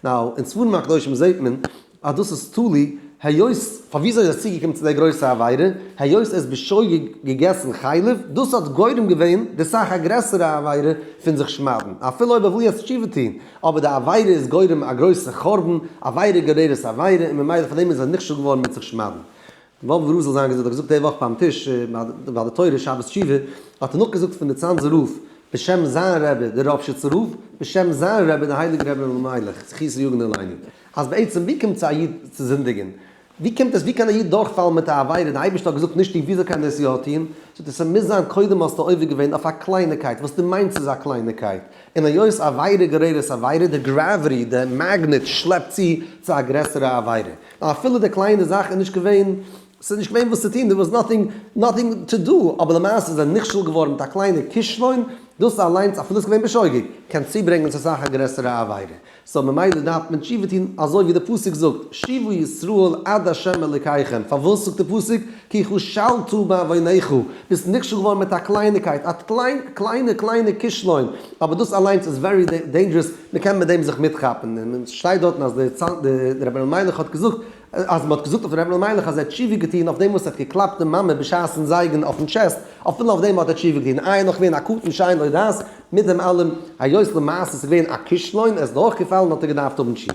נאו, אין ספרים הקדושים זעהט מען אז דאס איז תלוי היות, פאר וויאזוי ער איז צוגעקומען צו דער גרויסע עבירה, היות ער איז בשוגג געגעסן חלב, דאס האט גורם געווען די סאך א גרעסערע עבירה פון זיך שמד'ן, אפילו אויב ער וויל יעצט תשובה טוהן, אבער די עבירה איז גורם א גרויסע חורבן, עבירה גוררת עבירה, און ממילא פאר דעם איז ער נכשל געווארן מיט זיך שמד'ן. וואלף וואס זאל זיין געזאגט, האט געזאגט די וואך ביים טיש ביי די תורה שבת תשובה, האט ער נאכגעזאגט פון די צאנזער רב בשם זיין רבי די ראפשיצער רב בשם זיין רבי די הייליגע רבי אלימלך זכות יגן עלינו, אז בעצם ווי קומט צו א איד צו זינדיגען? ווי קומט עס ווי קען א איד דורכפאלן מיט א עבירה, די אייבערשטער האט געזאגט נישט איך, וויאזוי קען ער עס יא טוהן? זאגט ער ס'מוז זיין קודם האסטו עובר געווען אויף א קלייניקייט וואס דו מיינסט איז א קלייניקייט, און היות עבירה גוררת עבירה, די גראוויטי, די מאגנעט שלעפט צו צו א גרעסערע עבירה. אפילו די קליינע זאך איז נישט געווען, ס'איז נישט געווען וואס צו טון, דער וואס נאטינג, נאטינג טו דו, אבער למעשה איז ער נכשל געווארן מיט א קליינע כישלון, דאס אליינס אפילו איז געווען בשוגג, קען צוברענגען צו אסאך א גרעסערע עבירה, סאו ממילא דארף מען תשובה טון אזוי ווי די פסוק זאגט, שובו ישראל עד ה' אלוקיכם, פארוואס זאגט די פסוק, כי כשלת בעווניך, ביסט נכשל געווארן מיט א קלייניקייט, א קליינע קליינע כישלון, אבער דאס אליינס איז ווערי דעינדזשערעס, מען קען מיט דעם זיך מיטכאפן, און עס שטייט דארטן אז דער רבי אלימלך האט געזאגט, אז מען האט געזאגט אויף דעם רבי אלימלך אז ער האט תשובה געטון אויף דעם וואס ער האט געקלאפט די מאמע בשעת'ן זייגן אויפן טשעסט, אפילו אויף דעם האט ער תשובה געטון, איי נאך ווערן א קטן שאין לו דעת, מיט דעם אלעם היות למעשה עס איז געווען א כישלון, עס איז דורכגעפאלן האט ער געדארפט האבן תשובה.